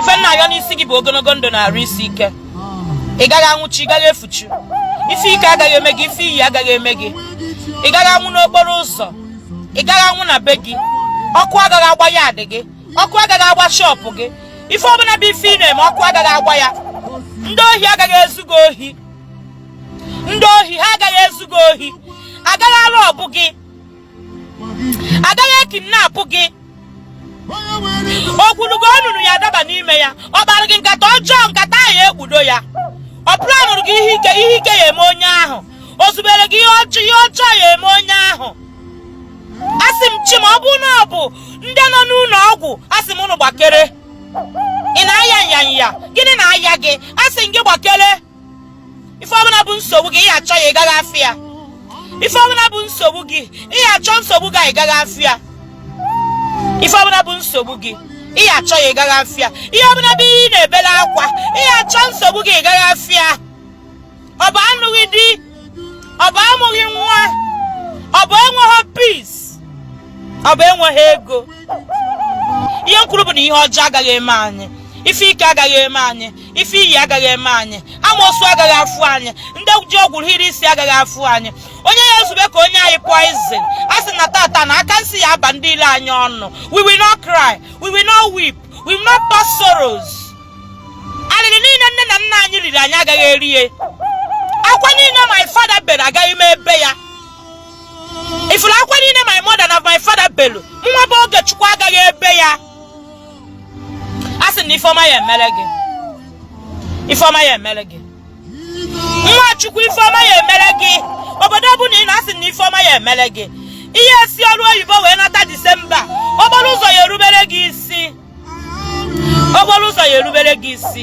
ife m na-ayọ n'isi gị bụ ogologo ndụ na arụ isi ike ị gaghị anwụchi ị gaghị efuchu ife ike agaghị eme gị ife iyi agaghị eme gị ị gaghị anwụ n'okporo ụzọ ị gaghị anwụ na be gị ọkụ agaghị agba yaadị gị ọkụ agaghị agba shọpụ gị ife ọbụla bụ ife ị na-eme ọkụ agaghị agba ya ndị ohi agaghị ezu gị ohi ndị ohi ha agaghị ezu gị ohi agaghị arọbụ gị agaghị ekidnapụ gị o gwulu gị onunu ya adaba n'ime ya ọ kpara gị nkata ọjọọ nkata ahụ ekpudo ya ọ planụrụ gị ihe ike ihe ike ya eme onye ahụ o zubere gị ihe ọjọọ ihe ọjọọ ya eme onye ahụ asị m chi ma ọ bụ na ọ bụ ndị nọ n'ụlọ ọgwụ asị m ụnụ gbakere ị na-aya nyanya gịnị na-aya gị asị m gị gbakere ife ọbụla bụ nsogbu gị ị ya achọ ya ị gaghị afụ ya ife ọbụla bụ nsogbu gị ị ya achọ nsogbu gị ị gaghị afụ ya ife ọbụla bụ nsogbu gị ị ya achọ ya ị gaghị afụ ya ihe ọbụla bụ ihe ị na-ebere akwa ị ya achọ nsogbu gị ị gaghị afụ ya ọ bụ anụghị di ọ bụ amụghị nwa ọ bụ enweghị peace ọ bụ enweghị ego ihe m kwuru bụ na ihe ọjọọ agaghị eme anyị ife ike agaghị eme anyị ife iyi agaghị eme anyị amoosu agaghị afụ anyị ndị ji ọgwụ hiri isi agaghị afụ anyị onye ya ezube ka o nye anyị poizin a sị na tata na aka nsi ya aba ndị ilo anyị ọnụ we will not cry we will not weep we will not pass sorrows alịrị niile nne na nna anyị riri anyị agaghị erie akwa niile my father bere agaghị m ebe ya ị fụrụ akwa niile my mother na my father belu nwa bụ ogechukwu agaghị ebe ya a sị na ife ọma ya emere gị ife ọma ya emere gị nwa chukwu ife ọma ya emere gị obodo ọbụla ị nọ a sị na ife ọma ya emere gị ị ya esi ọrụ oyibo wee nata disemba okporo ụzọ ya erubere gị isi okporo ụzọ ya erubere gị isi